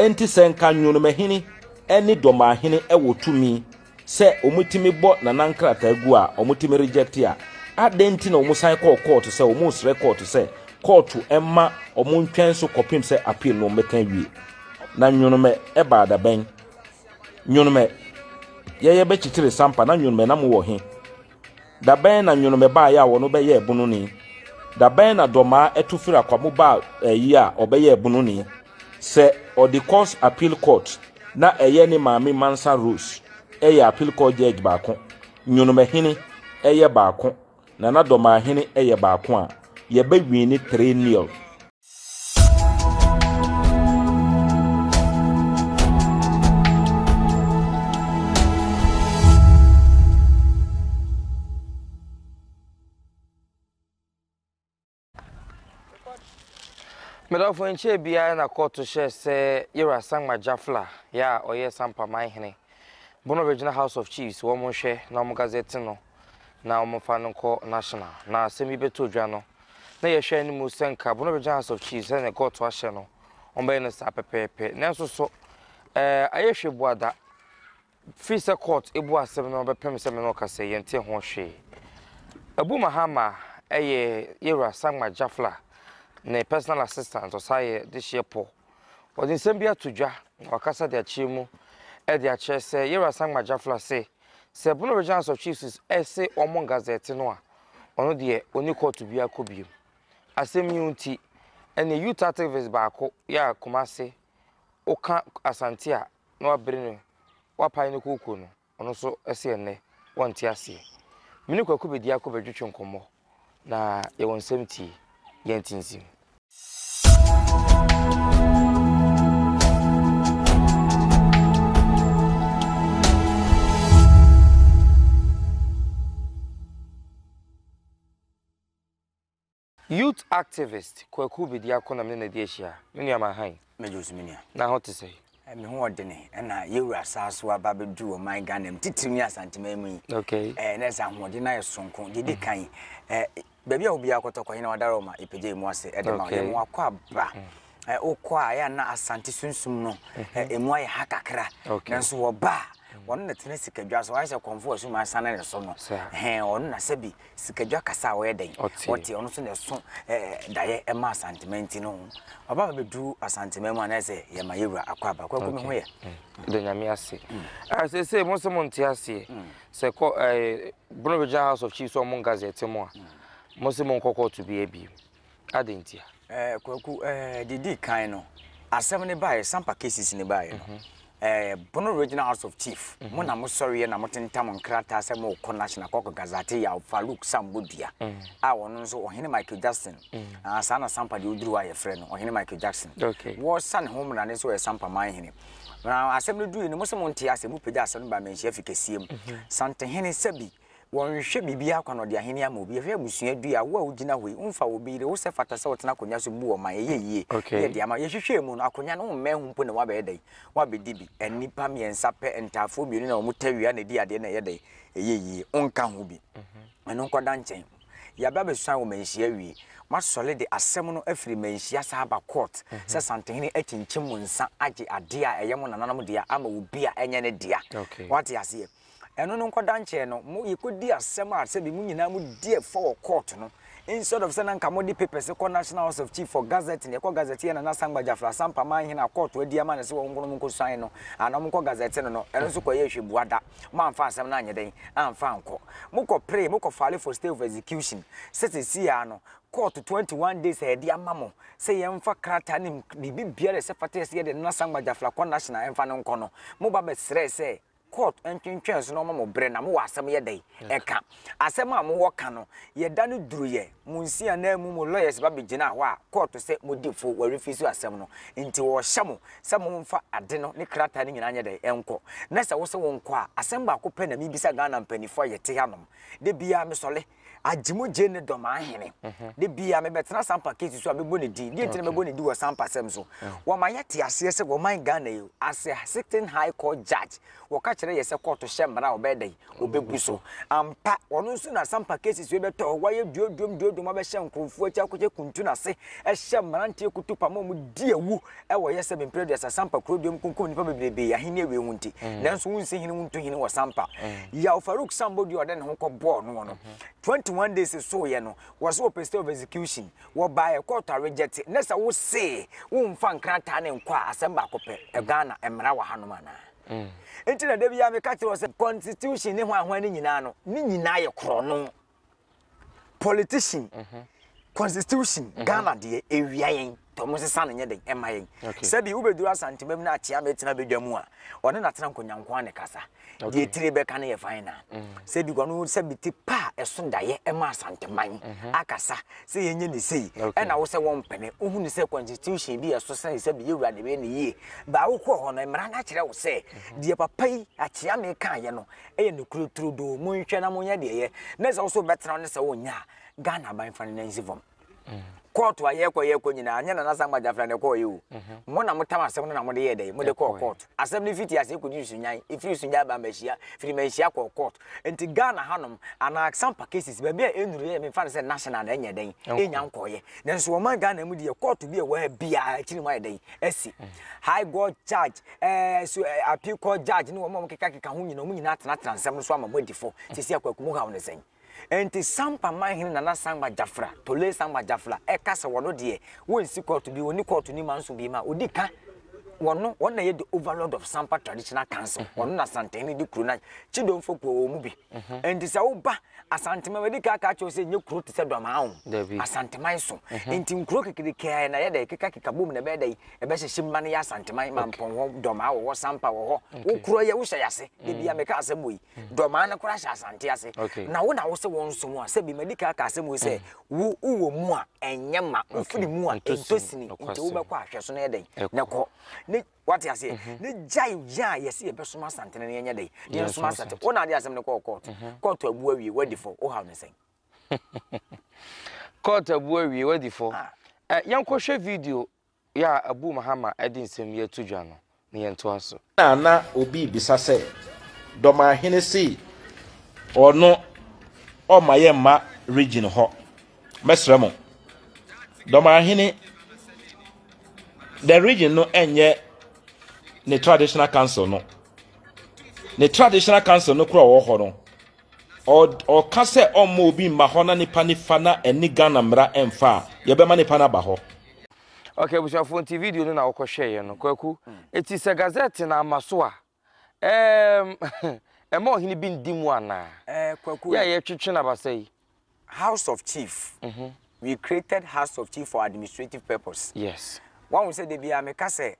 Enti sɛ nka Nwonomahini ne Dɔmahene wɔ tumi sɛ wɔtumi bɔ Nana nkrataa gu a wɔtumi reject a, adɛn nti na wɔsan kɔɔ kɔɔto sɛ wɔresrɛ kɔɔto sɛ kɔɔto mma wɔntwɛn so kɔpem sɛ appeal no wɔbɛka awie? Na Nwonomɛ baa da bɛn? Nwonomɛ yɛyɛ bɛkyekyere Sampa na Nwonomɛ na mowɔ he? Da bɛn na nworomɛ baeɛ a wɔn bɛyɛ ɛbononi? Da bɛn na dɔmaa ɛto firi akwamu baa ɛyi a ɔbɛyɛ ɛbononi? Sɛ ɔde kɔs appeal court na ɛyɛ ne maame Mansa Rose ɛyɛ appeal court judge baako, nworomɛ hene ɛyɛ baako na na dɔmaa hene ɛyɛ baako a, yɛbɛ wini three nil. Medɔfo nkyɛɛ biara na kɔɔto hyɛɛ sɛ Yera Sangma Jafla yɛ a ɔyɛ Sampaman hene bono bɛgyina House of Chiefs wɔn nhwɛ na wɔn gazette no na wɔmfa no nkɔ national na asɛm yi bɛtɔ dwa no, na yɛhwɛ anim sɛ nka Bono Regional House of Chiefs sɛdeɛ Gɔɔto ahyɛ no, wɔbɛyɛ no saa pɛpɛɛpɛ. Nanso so ɛɛ ayɛ hwɛ bu ada? Firi sɛ court ebu asɛm no bɛpem sɛ me na ɔka sɛ yɛnte ho hwee. Abu Mahama ɛyɛ yɛwura Sangma Jafla ne personal assistant ɔsaa yɛ dehyeɛ pɔ. Ɔde nsɛm bi ato dwa na wakasa de akyerɛ mu ɛde akyerɛ sɛ yɛwura Sangma Jafla se Sɛ Bruno Regence of Chiefs se wɔmmɔ Gazette no a, ɔno deɛ ɔnni kɔɔto biara kɔ biom. Asɛm yi nti, ɛnneɛ youth activist baako yɛ a Kumase, woka Asante a na wabere no, wapae no kooko no, ɔno nso se ɛnnɛ wɔnte aseɛ. Me ne Kwaku Bediako bɛdwetwe nkɔmmɔ. Na yɛwɔ nsɛm tie, yɛntintim. Youth activist Kwaku Bediako na me ne no adi ahyia. Me nua Manhan. Mɛgye wo so me nua. Na ho te sɛn? Me ho wɔ dene. Ɛna yɛ wura saa so aba bɛduru ɔman Ghana mu titiriw ne Asanteman mu yi. Okay. Ɛɛ na ɛsɛ ahoɔden na yɛ sonko. Deɛ di kan, ɛɛ baabi a obiara kɔtɔ kɔ, yɛn wadara ɔma yɛpagya yɛn mu ase ɛde ma. Yɛn mu akɔ aba. Ɛɛ wokɔ a yɛ na Asante sunsum no ɛɛ emu ayɛ ha kakra. Nanso wɔba a wɔn na tena sikadwa so. Ayɛ sɛ kɔmfo a sum asan ne so no. Ɛhɛn wɔn na sɛbi Sikadwa kasa a ɔyɛ dɛn? Ɔte. Ɔte, ɔno nso na ɛso ɛ, daeɛ ɛma Asanteman nti no, ɔba ma bɛduru Asanteman mu a, na ayɛ sɛ yɛma yɛn wura akɔ aba. Kwaku, me ho yɛ? Meda Nyame ase. Ah, seesei mo se monte aseɛ. Sɛ kɔ, eh, Bono Regional House of Chiefs ɔmo Gazette mo a, mo se monkɔ kɔɔto biaa bio. Adɛn ntia? Ɛɛ Kwaku, ɛɛ eh, deɛ di kan no, asɛm no baeɛ, Sampa cases no baeɛ no, mhm. ɛɛ Bono Regional House of Chief, mhm. mo na mo sɔreɛ na mo tentam nkrataa sɛ mo kɔ National Kɔkɔ Gazate Yaw Farouk Sambo Dua, mhm. a ɔno nso ɔhene Michael Jackson, ah, saa na Sampa deɛ ɔduru a yɛfrɛ no ɔhene Michael Jackson. Wɔsa ne ho mmara ne nso yɛ Sampa man hene. Na asɛm no dui no, mo sɛ mo nte asɛm, mo pagya asɛm no ba manhyia fi kɛseɛ mu. Santehene Sabi, Wɔnhwɛ biribiara kwa na ɔde ahenni ama obi. Ɛhwɛ abusua du yi a wo a wugyina hɔ yi, womfa wo bere, wo sɛ fata sɛ wotena akonnwa so mmu ɔman. Ɛyɛ yiye. Ne yɛ de ama. Yɛhwehwɛɛ mu no, akonnwa no wommɛn ho mpo na woabɛyɛ dɛn? Woabedi bi. Nnipa mmiɛnsa pɛ, ntaafoɔ mmienu na wɔn tawia na edi adeɛ na ɛyɛ dɛn? Ɛyɛ yiye. Wonka ho bi. Ɛno nkɔda nkyɛn. Yɛaba abɛsuan wɔ manhyia awie. Moasɔre de asɛm no afiri manhyia saa aba court sɛ Santehene akyinkyim mo nsa agye adeɛ a ɛyɛ mo nananom dea ama obi a ɛnyɛ ne dea. Woate aseɛ? Ɛno no nkɔda nkyɛɛ no, mo yɛkɔdi asɛm a sɛbi mo nyinaa mo di ɛfɔ wɔ court no, instead of sɛ na nka mode papers kɔ National House of Chief for gazetting, yɛkɔ gazette yɛ Nana Sankba Gyafra Asampah man hene a court adi ama no sɛ wɔn nkono mo nkɔ suan no anaa mo nkɔ gazette no no, ɛno nso kɔ yɛɛ hwɛ bua da, mo amfa asɛm no anyɛ dɛn? Amfa ankɔ. Mo kɔ pree, mo kɔ file for stay of execution sɛ sɛsii ara no court 21 days a yɛde ama mo sɛ yɛmfa krataa ne biribi biara ɛsɛ fata yɛ sɛ yɛde Nana Sankba Gyafra kɔ National ɛmfa no nkɔ no, mo ba bɛsrɛɛ sɛ Court ntwentwɛn so na ɔma mo brɛ na mo wɔ asɛm yɛ dɛn ɛka. Asɛm a mo wɔ ka no yɛ da no duru yɛ mo nsi anaa mu mo lawyers ba bɛ gyina hɔ a court sɛ mo di fo wɔ refuse asɛm no nti wɔ hyɛ mo sɛ mo nfa ade no ne krataa no nyinaa nyɛ dɛn ɛnkɔ na sɛ wo se wo nkɔ a asɛm baako pɛ na me bisa Ghana mpanyinfoɔ a yɛ te hanom da biara me sɔle Agyemu Gye ne dɔm ahene. Da biara mebɛtena Sampa case so a mɛbɔ ne din. Deɛ nti na mɛbɔ ne din wɔ Sampa sɛm so. Wɔma yɛte aseɛ sɛ wɔman Ghana yi as a sitting high court judge wɔka kyerɛ yɛ sɛ kɔɔto hyɛ mmara a ɔbɛyɛ dɛn? Ɔbɛbu so. Ampa ɔno nso na Sampa cases wei bɛtɔ hɔ. Wayɛ duoduom duoduom abɛhyɛ nkorɔfoɔ akyi akɔhyɛ kuntu no ase hyɛ mmeranteɛ kutupa ma wɔdi awu. Ɛwɔ yɛ sɛ me mpere aduasa Sampa kuro deɛ ɔmkunkum nnipa bebrebee ahenni awie ho nti nanso wonsi hene wontu hene wɔ Sampa. Yaw Farouk Sambo dua a ɔde ne ho kɔ bɔɔ noɔ no 21 days soeɛ no wɔse wɔpɛ stay of execution wɔbaeɛ kɔɔto a reject nɛ sɛ wosee wonfa nkrataa no nkɔ a asɛm baako pɛ Ghana mmara wɔ hanom anaa? Nti na da biara meka kyerɛ wo sɛ constitution ne hwan hwan no nyinaa no ne nyinaa yɛ korɔno. politician constitution mhm. ghana deɛ ewia yɛn tɔmo sesa no nyɛ den ɛma yɛn sɛbi wobɛduru asantemam no akyea mɛtena bɛdwa mu a ɔne natena nkonyankoa ne kasa deɛ tire bɛka no yɛ fan na mhm. sɛbi kɔno sɛbi te pa a ɛso daeɛ ɛma asanteman mhm. akasa sɛ yɛnyɛ ne sei ɛna wo sɛ wɔmpɛne wohu ne sɛ constitution bi ɛso sɛ sɛbi yɛwura ne bɛyɛ ne yie baa wokɔ hɔ no mmara no akyerɛ wo sɛ deɛ papa yi akyea mekaayɛ no ɛyɛ nokuro turodoo monhwɛ na monyɛ deɛ ɛyɛ na sɛ wo so wobɛtena wo ne sɛ wonyɛ a ghana aban fa no nansi fam kɔɔto a yɛkɔ yɛkɔ nyinaa nyɛ nana sangba gyafra na ɛkɔɔ yɛ o mhm. mo na motam asɛm no na mode yɛ dɛn mode kɔɔ kɔɔto asɛm no fiti ase kɔdi sunyan ɛfiri sunyan ba manhyia firi manhyia kɔɔ kɔɔto nti ghana hanom anaa sampa cases baabi a ɛnuru yɛ memfa no sɛ national na ɛnyɛ dɛn ɛnya nkɔɔyɛ nanso wɔma ghana mu deɛ kɔɔto bi a ɛwɔ ha biaa akyiri mu ayɛ dɛn asi mhm. high god charge ɛɛ so ɛɛ appeal court judge ne wɔn a wɔkekakeka ho nyinaa wɔn nyinaa atenatena nsɛm no so ama mo adi fɔ sisi akwaku mu haw ne sɛn nti sampa manhene nana sangba jafra tole sangba jafra ɛka sɛ wɔn deɛ wɔnsi kɔɔto bi wɔni kɔɔto ni manso bi ma odi ka wɔn wɔn na yɛ the overlord of sampa traditional council wɔn na santɛn ne di kuro na kyidomfo kuo wɔn mu bi nti sɛ woba Asanteman, madi kan aka akyerɛ wo sɛ ɛnyɛ kuro te sɛ Dwamaa o. Dabi. Asanteman so. Ɛhɛn. Nti nkuro kekereke ara na ɛyɛ dɛ ɛkekakeka bom na ɛbɛyɛ dɛ ɛbɛhyehye mma no yɛ Asanteman, Mampɔn hɔ, Dɔmaa wɔ hɔ, Sampa wɔ hɔ. Okay. Wo kuro yɛ, wo hyɛ yɛ ase. Da bi a meka asɛm wei. Dɔmaa no koraa hyɛ Asante ase. Okay. Na wo na wo se wo nso mu a, sɛbi madi kan aka asɛm wei sɛ wo wowɔ mu a ɛnyɛ ma, wo firi mu a ɛntɔ sini. Nti wo bɛkɔ a hwɛ so na ɛyɛ dɛn? Ɛkɔ. Na kɔ. Ne. wate aseɛ mm-hmm. ne gyae yɛ a yɛsɛ yɛbɛsom asantene no yɛnyɛ dɛn ne yɛnsom asantene wo na ade asɛm no kɔɔ kɔɔto mm-hmm. kɔɔto abu awie wadi fɔ wohaw ne sɛn kɔɔto abu awie wadi fɔ ah. eh, yɛnkɔhwɛ video yɛ a abu mahama de nsɛm yi ato dwa no ne yɛntoa so na na obi bisa sɛ dɔmahene sei ɔno ɔma yɛ mma region hɔ mɛsrɛ mo dɔmarahene the region no ɛnyɛ ne traditional council no ne traditional council no kora ɔwɔ hɔ no ɔka sɛ ɔmma obi mma hɔ na nipa nifa na ɛne ghana mmara ɛmfa a yɛbɛma nipa no aba hɔ ok abusuafoɔ nti video no na wɔkɔhwɛeɛ no kwaku ɛti sɛ gazette no ama so a Ɛɛm ɛmma ɔhene bi ndi mu anaa? Ɛɛ kwaku. Yɛ a yɛtwetwe no abasa yi. House of chief we created house of chief for administrative purpose yes wahu sɛ dabi a meka sɛ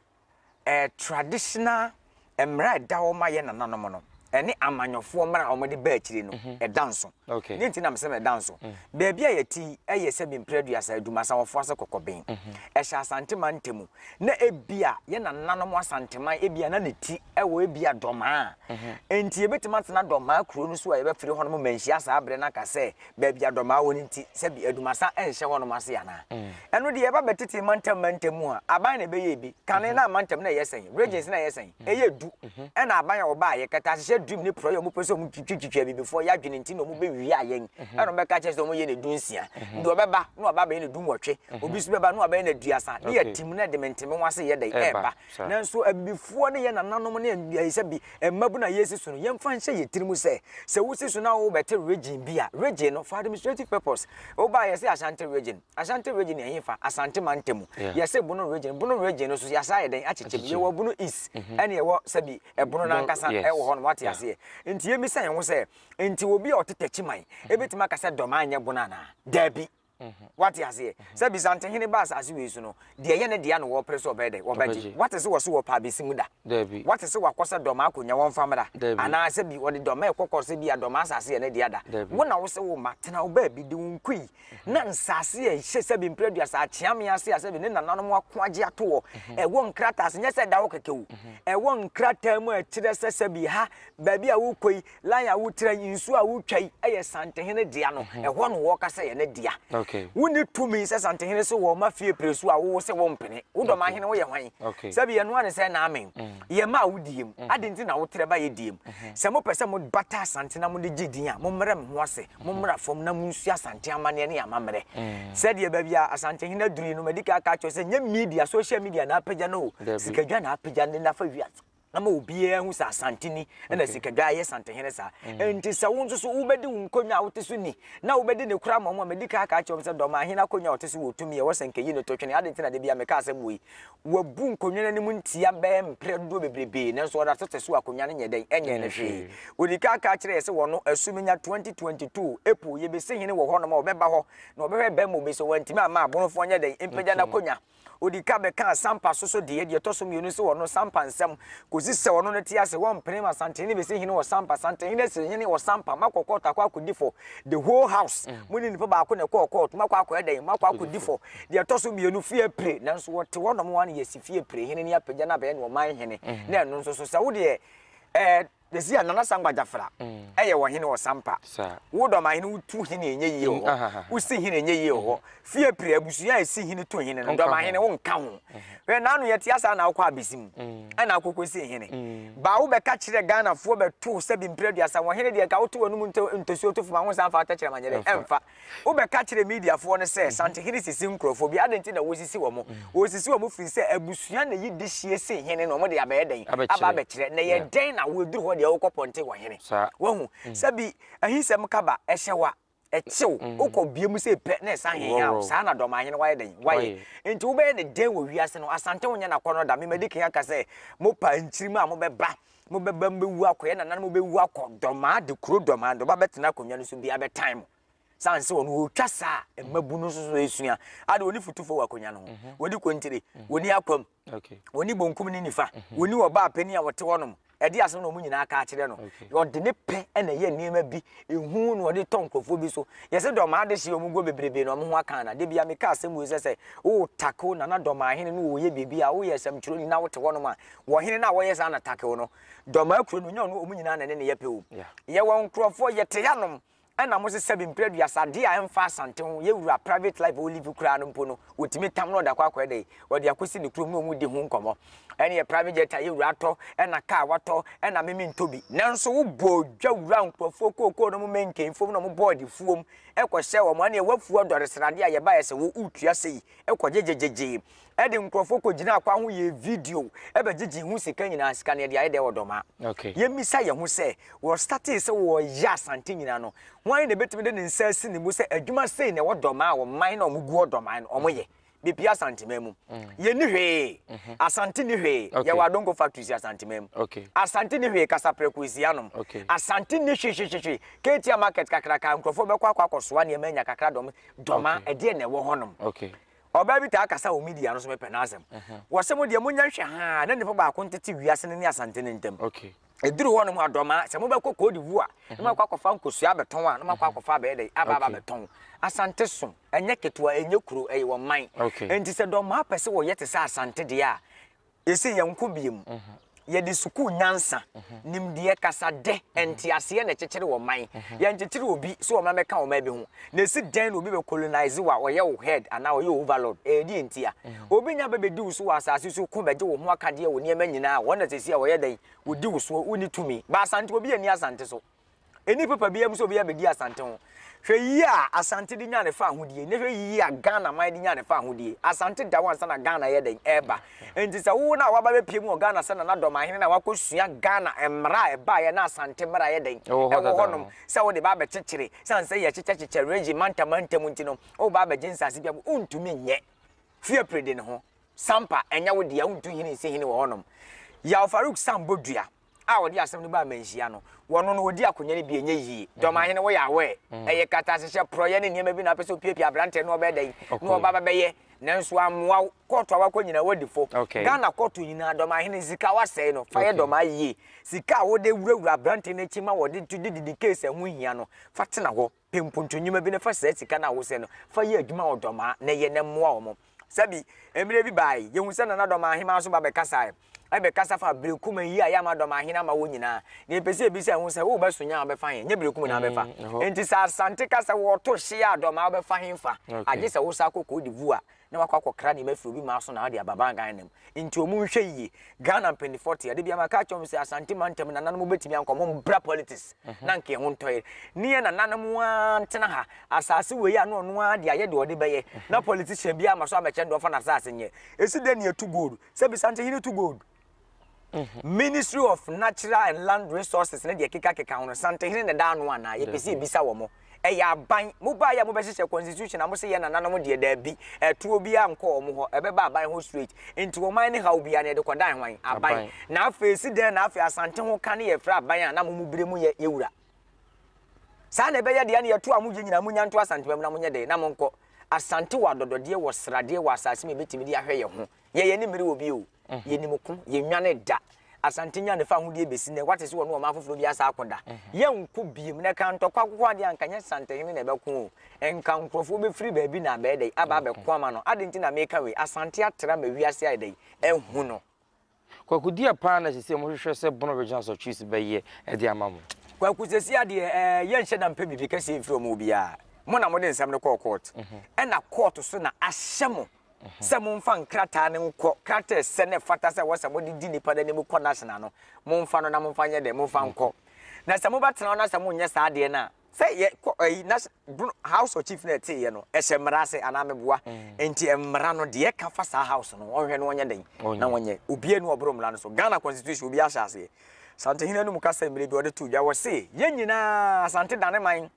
eh, traditional mmara a ɛda hɔ ma yɛ nananom no ɛne amanyɔfoɔ mmara a wɔde ba akyire no ɛda nso Dɛn nti na mese meda nso? Baabi a yɛte yi yɛ sɛ bi mprɛ aduasa Adwumasa wɔ Foase Kɔkɔben. Ɛhyɛ Asanteman ntamu. Na ebia yɛn nananom Asanteman ebia na ne ti wɔ ebia Dɔmaa. Enti yɛbɛtumi atena Dɔmaa kuro no so a yɛbɛfiri hɔnom manhyia saa berɛ no aka sɛ baabi a Dɔmaa wɔ no nti sɛ bi Adwumasa nhyɛ hɔnom ase anaa? Ɛno deɛ yɛba bɛtetee mantam mantam mu a, aban na ɛbɛyɛɛ bi. Kane na mantam na ɛyɛ sɛn? Regions na ɛyɛ sɛn? Ɛyɛ du na aban a wɔbaa yɛ kɛtɛahyehyɛ dream ne porɔeɛ a wɔpɛ sɛ wɔn twitwi twitwi abibifoɔ yɛ adwene nti na wɔn bɛ wia yɛn ɛna wɔn bɛka kyerɛ sɛ wɔn yɛ ne du nsia deɛ ɔbɛba na waba bɛyɛ ne du nwɔtwe obi nso bɛba na wabɛyɛ ne aduasa ne yɛ team na de mentemeho ase yɛ dɛn ɛɛba nanso abibifoɔ ne yɛ nananom ne ɛɛ sɛbi ɛmmabu na yɛsi so no yɛn fa nhyɛ yɛ tiri mu sɛ sɛ wosi so na wo bɛte region bi a region no for administrative purpose wobaa yɛ sɛ Ashanti region Ashanti region yɛ hefa? Asante mantam mu. Yeah. Yɛse Bono region. Bono region no so yɛasa ayɛ dɛn akyekyɛ mu. Yɛwɔ Bono East mm-hmm. ɛne yɛwɔ sɛbi ɛbono nankasa ɛwɔ hɔ no wate aseɛ. Nti yɛmisa yɛn ho sɛ nti obi a ɔte Takyiman mm-hmm. ebetumi aka sɛ Dɔm anyɛ Bono anaa? Daabi. Mm-hmm. Wate aseɛ. Sɛ Bisante hene ba asase wei so no deɛ ɛyɛ ne deɛ na wɔpere so ɔbɛyɛ dɛ wɔbɛgye. Wate sɛ wɔso wɔ paa besi mu da. Daabi. Wate sɛ wakɔ sɛ Dɔm akonnwa wɔn fa mmra. Daabi. Anaasɛ bi wɔde Dɔm ɛkɔkɔ sɛ bi a Dɔm asase yɛ ne deɛ da. Daabi. Wo na wo sɛ wo ma tena wo baabi de wo nkui na nsaase a ɛhyɛ sɛbe mpere aduasa akyea me ase a sɛbe ne nananom ako agye ato hɔ ɛwɔ nkrataa ase nyɛ sɛ ɛda hɔ kɛkɛ o ɛwɔ nkrataa mu a ɛkyerɛ sɛ sɛbe ha baabi a wokɔ yi line a wotra yi nsuo a wotwa yi ɛyɛ santehene dea no ɛhɔ no wɔka sɛ yɛ ne dea wonni tumi sɛ santehene sɛ wɔma fie pere so a wowo sɛ wɔmpene wodɔm ahene woyɛ hwan sɛbe yɛno ane sɛ na amen yɛma a wodiem ade nti na wotrɛ ba yɛ diem sɛ mopɛ sɛ mobata asante na mode gye din a mommrɛ me ho ase Mommra fam na munsu Asante amanneɛ ne amammerɛ. Sɛdeɛ baabi a Asantehene aduru yi no, madi kan aka akyerɛ wo sɛ, nyɛ media, social media na apagya no o. Sikadwa na apagya no na fa wia to na ma obiara hu sɛ Asante ni na Sikadwa ayɛ Asantehene saa. Enti sɛ wo nso so wobɛdi wo nkonnwa a wote so ni na wobɛdi ne koraa mmom a, madi kan aka akyerɛ wo sɛ Dorman Ahene akonnwa a ɔte so wɔ tumi a ɛwɔ sɛ anka ɛyi no to twene. Adɛn nti na da biara meka asɛm wɔ yi? Wabu nkonnwa no anim ntia bɛyɛ mprɛ dodoɔ bebrebe, nanso ɔda so te so a akonnwa no nyɛ dɛn? Ɛnyɛ no hwee. Ɔdi kan ka kyerɛɛ yɛ sɛ wɔno, Asumenya 2022, April, yɛbɛsi hene wɔ hɔnom a ɔbɛba hɔ na ɔbɛhwɛ bɛn ma ɔbɛsi hɔ. Wantumi amma aborofoɔ nyɛ dɛn? Mpagya n'akonnwa. Ɔdi kan bɛkaa Sampa so so deɛ, deɛ ɛtɔ so mmienu nso wɔno, Sampa nsɛm. Kɔsi sɛ ɔno no te ase, wɔmpene ma Santenhene bɛsi hene wɔ Sampa. Santenhene asi hene wɔ Sampa. Moakɔ kɔɔto akɔ akɔdi fɔ. The whole house, mo ne nipa baako na ɛkɔɔ kɔɔto. Moakɔ akɔyɛ dɛn? Moakɔ akɔdi fɔ. Deɛ ɛtɔ so mmienu, fie pire, nanso wɔte hɔ nom ara na yɛasi fie pire hene no apagya no abɛyɛ ne ɔman hene, mm. na ɛno nso so sɛ wo deɛ ɛɛ yɛsi a nana sangba gyafra mm. ɛyɛ wɔ hene wɔ sampa wo dɔm ahene wotu hene ɛnyɛ yie wɔ hɔ wosi hene ɛnyɛ yie wɔ hɔ fie pire abusua a ɛsi hene to hene no dɔm ahene wo nka ho hwɛ naano yɛte asa na wokɔ abesim mm. ɛna akokɔ si hene mm. baa wobɛka kyerɛ ghanafoɔ bɛto sɛ bi mpere aduasa wɔ hene deɛ nka woto wɔ no mu ntosuo to foma ho nsa mfa atɛkyerɛ ma nyɛ dɛ ɛmfa Wobɛka kyerɛ Mediafoɔ no sɛ Sanhene sisi nkurɔfoɔ bi. Adɛn nti na wɔsisi wɔn? Wɔsisi wɔn firi sɛ abusua na ɛyi dehyeɛ sen hene no, wɔde abɛyɛ dɛn? Aba abɛkyerɛ. Na ɛyɛ dɛn na wɔduru hɔ deɛ wokɔ pɔnte wɔ hene? Wahu? Sɛ bi ahisɛm ka ba, ɛhyɛ wo a, ɛkye wo. Wokɔ bea mu sei pɛ na ɛsan hehaa wo. Saa na Dɔmahene wayɛ dɛn? Wayɛ. Enti wobɛyɛ no dɛn wɔ wiase no? Asante wonyɛ no akɔnnɔ da. Memadi kan aka sɛ mopaa nkyirimma a mobɛba mobɛba mu bɛwu akɔ, yɛn nananom bɛwu akɔ, dɔmaa de kuro dɔmaa de ɔba bɛtena akonnwa no so bi abɛtan mo. Sane sɛ ɔno ɔtwa saa a, mmabunu nso so ɛsua. Ade wɔni futufoɔ wɔ akonnwa no ho, mhm. wɔni kontire, mhm. wɔni akwam, wɔni bonkum ne nifa, mhm. wɔni ɔbaa panin a wɔte hɔnom ɛde asɛm na wɔn nyinaa ka akyerɛ no ɔde ne pɛ na ɛyɛ nneɛma bi ehu na ɔde tɔ nkurɔfoɔ bi so yɛsɛ dɔmaa de hyɛ wɔn guo bebrebe na wɔn ho aka na debi ameka asɛm wei sɛ sɛ wotako nana dɔmaa hene na wɔyɛ biribi a woyɛ asɛmtwerɛni na wote hɔnom a Wɔ hene no a wɔyɛ saa na takew no dɔmaa kuro no nyaw no wɔn nyinaa na ne ne yɛ pɛ o yɛ wɔn nkurɔfoɔ yɛ te yanom ɛna mo sesa bi mpere aduasa adeɛ a ɛmfa asante ho yɛ wura private life wɔ live koraa no mpo no wɔtumi tam no ɔdakɔ akɔ ɛdɛ ɔde akɔsi ne kurom na wɔn di ho nkɔmɔ ɛne yɛ private jet a yɛ wura atɔ ɛna kaa watɔ ɛna meme ntɔ bi nanso wo bɔ dwa wura nkurɔfoɔ kookoo no mo mɛnkɛn fom na mo bɔɔ de fuom ɛkɔ hyɛ wɔn ɛne yɛ wafuo ɔdɔre sradeɛ a yɛ ba yɛ sɛ wo utua sɛ yi ɛkɔ gyegyegyegye ɛde nkurɔfoɔ kɔgyina akwan ho yɛɛ video bɛgyegyee ho sika nyinaa, sika no yɛde ayɛ dɛ ɔdɔma. Yɛmmisa yɛn ho sɛ, wɔstartee sɛ wɔreyɛ Asante nyinaa no, hwan na ɛbɛtumi de ne nsa asi ne mu sɛ adwuma sei na ɛwɔ dɔma a ɔman na wɔgu ɔdɔman no wɔyɛ? Bepia Asanteman mu. Yɛnni hwee. Asante nni hwee. Yɛwɔ Adonko factory si Asanteman mu. Asante nni hwee. Kasaprɛko esi anom. Asante nni hwehwehwehwe. Ketia market kakraka nkurɔfoɔ bɛkɔ akɔ akɔsoa nneɛma anya kakra dɔm dɔma ɛdeɛ na ɛwɔ hɔnom. Ɔbaa bi taa kasa wɔ media no so, mepɛ n'asɛm. Ɔse, Mo deɛ monya nhwɛ haa na nnipa baako ntete wiase no ne Asante no ntam. Ɛduru hɔ nom a, dɔmaa, sɛ mobɛkɔ Côte d'Ivoire na moakɔ akɔfa nkosua abɛtɔn a, na moakɔ akɔfa abɛyɛ dɛn? Aba aba abɛtɔn. Asante so, ɛnyɛ ketewa, ɛnyɛ kuro, ɛyɛ ɔman. Enti sɛ dɔmaa pɛ sɛ wɔyɛ te sɛ Asante deɛ a, Ese yɛnkɔ bie mu. Yɛde sukuu nyansa, nimdeɛ, kasadɛ, nteaseɛ na ɛkyekyere ɔman. Yɛnkyekyere obi sɛ ɔma mɛka ɔman bi ho. Na ese dɛn na obi bɛ colonize wo a ɔyɛ wo head anaa ɔyɛ overlord? Ɛdeɛn ntia? Obi nya bɛ bɛdi wo so wɔ asase so ko bɛgye wo ho akadeɛ wo nneɛma nyinaa a wɔn na seesei a wɔyɛ dɛn? Wɔdi wo soɔ, wonni tumi. Ba Asante, obi anni Asante so. Ɛnni papa biara mu sɛ obi abɛdi Asante ho. Hwɛ yie a Asante de nya ne fa ahodie, na hwɛ yie a Ghana man de nya ne fa ahodie. Asante da hɔ ansa na Ghana yɛ dɛn ɛreba. Nti sɛ wowo no a waba bɛpie mu wɔ Ghana sɛ Nana Dɔmahene na wakɔsua Ghana mmara a ɛbaeɛ na Asante mmara yɛ dɛn ɛwɔ hɔnom sɛ wode ba abɛkyekyere sane sɛ yɛkyekyɛkyekyɛ regime manta manta mu nti no woba abɛgye nsase bi a wontumi nyɛ fie pere de ne ho sampa ɛnyɛ wo deɛ wontu hene nsi hene wɔ hɔnom Yaw Farouk Sam Bodua. a wɔde asɛm no baa amanhyia no, wɔno no wɔdi akonya no bi ɛnyɛ yie. Dɔmahene, woyɛ aware? Ɛyɛ katahyehyɛ, porɔeɛ ne nneɛma bi na wopɛ sɛ wopiapia aberanteɛ na ɔbɛyɛ dɛn? Na ɔba bɛbɛyɛ. Nanso ammoa wo. Kɔɔto a woakɔ nyinaa woadi fɔ. Ghana kɔɔto nyinaa, dɔmahene ne sika a woasɛe no, fa yɛ dɔmaa yie. Sika a wode wurawura aberanteɛ no akyi ma wɔde to de didi case a ɛho hia no, fa tena hɔ. pɛ mpontonwuma bi na fa saa sika no a wosɛ no fa yɛ adwuma wɔ dɔmaa na yɛ na mmoa wɔn. Sɛbi, mmerɛ bi baae, yɛhu sɛ Nana Dɔmaa Ahemaa nso ba bɛkasaeɛ. Ɛbɛkasa fa Berekum yi a yɛ ama Dɔmaa Hene ama wɔn nyinaa. Deɛ yɛpɛ sɛ yɛbisa ho sɛ, wobɛ so nyɛ a wobɛfa he? Nyɛ Berekum na wobɛfa. Enti sɛ Asante ka sɛ wɔto hye a Dɔmaa wobɛfa he fa? Agye sɛ wosan kɔ Cote d'Ivoire. na wakɔ akɔkra nneɛma afiri obi maa so na ɔde aba baa Ghana nam. Nti wɔn nhwɛ yie. Ghana mpanimfoɔ te a, da bi a maka akyerɛ wɔn sɛ Asante mantam no nananom bɛtumi ankɔ, wɔn mbra politics mhm. na nka ɛho ntɔ yɛn. Ne yɛ nananom ara ntena ha, asase wei a na ɔno ara de ayɛ deɛ ɔde bɛyɛ, mhm. na politician bi ama so amɛkyɛ deɛ ɔfa n'asase nyɛ. Ɛsi dɛ ne yɛtu gold, sɛ bisa nti hene tu gold? Ministry of Natural and Land Resources ne deɛ ɛkekakeka ho no, Santehene na ɛda ano anaa? Yɛpɛ sɛ yɛbisa wɔn. Ɛyɛ aban. Mobaeɛ a mobɛhyehyɛ constitution a mose yɛ nananom deɛ daabi. Ɛtoɔ biara nkɔ wɔn hɔ. Ɛbɛba aban hɔ straight. Nti wɔn ayɛ ne haw biara no yɛde kɔdan hwan? Aban. Na afei ɛsi dɛn na afei Asante ho ka ne yɛfrɛ aban a na mo mo berɛ mu yɛ yɛ wura? Saa na ɛbɛyɛ deɛ ne yɛto a mogye nyinaa monya nto Asante ba mu na monyɛ dɛn na monkɔ. Asante wɔ adɔdɔdeɛ, wɔ sradeɛ, wɔ asase mu yɛbɛtumi de ahwɛ yɛn ho. Yɛ yɛn anim re wɔ bio. Yɛnim ko, yɛnnwane da. Asante nya ne fa ahodeɛ bɛsi nɛ. Wate se wɔne ɔman foforɔ bi asa akɔ da. Yɛnko biom, na ɛka ntɔkwa akokoadeɛ a nka nyɛ Santehene na ɛbɛko o. Nka nkorɔfoɔ bɛfiri baabi na abɛyɛ dɛn? Aba abɛko ama no. Adɛn nti na meka wei? Asante atra ma wiase ayɛ dɛn? Ahu no. Kwaku deɛ paa na sesei mo hwehwɛ sɛ Bono Regional Asɔtwees bɛyɛ de ama mo? Kwaku sesei adeɛ ɛɛ yɛ nhyɛ da mpɛ biribi kɛseɛ mfiri ɔmo hɔ biaa. Mo na mode nsɛm no kɔɔ court. Ɛna court so na ahyɛ mo. sɛ momfa nkrataa no nkɔ krataasɛ no ɛfata sɛ ɛwɔ sɛ mode di nnipa no anim kɔ national no, momfa no na momfa nyɛ dɛn? Momfa nkɔ. Na sɛ mobɛtena hɔ na sɛ monyɛ saa adeɛ no a, sɛ yɛ kɔ ɛyi na house of chief no ɛteeɛ no ɛhyɛ mmara ase anaa meboa nti mmara no deɛ ɛka fa saa house no ɔnhwɛ no ɔnyɛ dɛn na ɔnyɛ obiara ni ɔboro mmara no so Ghana constitution obiara hyɛ aseɛ Santehene no mu kasa mmerɛ bi ɔde to dwa wɔ se yɛn nyinaa Asante dane man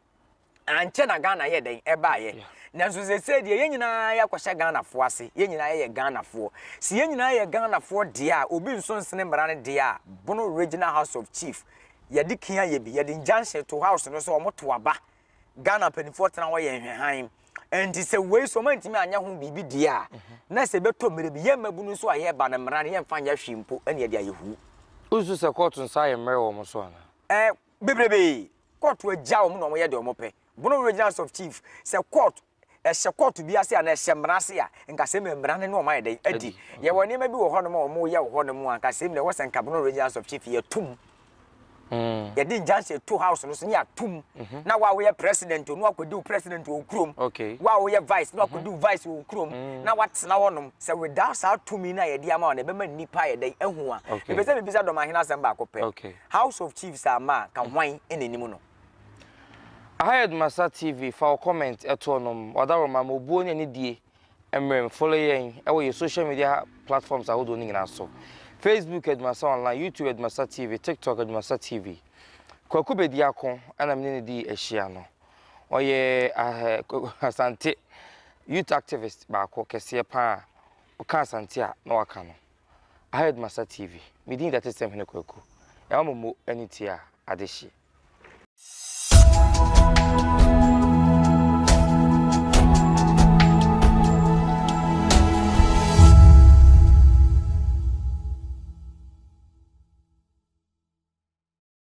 ankyɛ na ghana yɛ dɛn ɛbaayɛ nanso sɛsɛ deɛ yɛn nyinaa yɛakɔhyɛ ghanafoɔ ase yɛn nyinaa yɛyɛ ghanafoɔ si yɛn nyinaa yɛ ghanafoɔ deɛ a obi nso nsene mmara no deɛ a bono regional house of chief yɛde kia yɛ bi yɛde injunction to house no sɛ wɔn to aba ghana mpanimfoɔ tena hɔ yɛ nhwɛhan nti sɛ wei so ɔma ntumi anyɛ ho biribi deɛ a mhm. na sɛ ɛbɛtɔ mmerɛ bi yɛn mmabunu nso a yɛba no mmara no yɛmfa nyɛ hwee mpo ɛne ɛde ayɛ hu wosu sɛ kɔɔto nsa ayɛ mmerɛ wɔ mo so anaa eh, bebrebe court agya wɔn na wɔyɛ deɛ wɔn pɛ Bono regional house of chief sɛ court ɛhyɛ court bi ase anaa ɛhyɛ mmara ase a nka sɛm na mmara no ne wɔn ayɛ dɛn adi yɛwɔ nneɛma bi wɔ hɔ nom a wɔn yɛ wɔ hɔ nom a nka sɛm na ɛwɔ sɛ nka Bono regional house of chief yɛ tum Mm. yɛde injunction to house no so ne atum mhm. na wa woyɛ president no akɔdi wo president wɔ kurom wa woyɛ vice no akɔdi wo vice wɔ kurom mm. na watena hɔnom sɛ without saa tumi no a yɛde ama wo no ɛbɛma nnipa yɛ dɛn ahu a ɛpɛ sɛ mebisa dɔmahene asɛm baako pɛ House of Chiefs a ma a ka hwan na ɛnim no? Ahayed Masa TV fa wo comment to nom Ɔdaworoma ma obuo ne anidie mmerem follow yɛn wɔ yɛ social media platforms ahodoɔ no nyinaa so Facebook Adumasa Online YouTube Adumasa TV TikTok Adumasa TV Kwaku Bediako ɛna mene ne dii ahyia no ɔyɛ Asante youth activist baako kɛseɛ paa ɔka Asante a na waka no Aheadmaster TV, me din da Tetesemhene Kwaku, ɛma mo mo ani tie a, ade hye.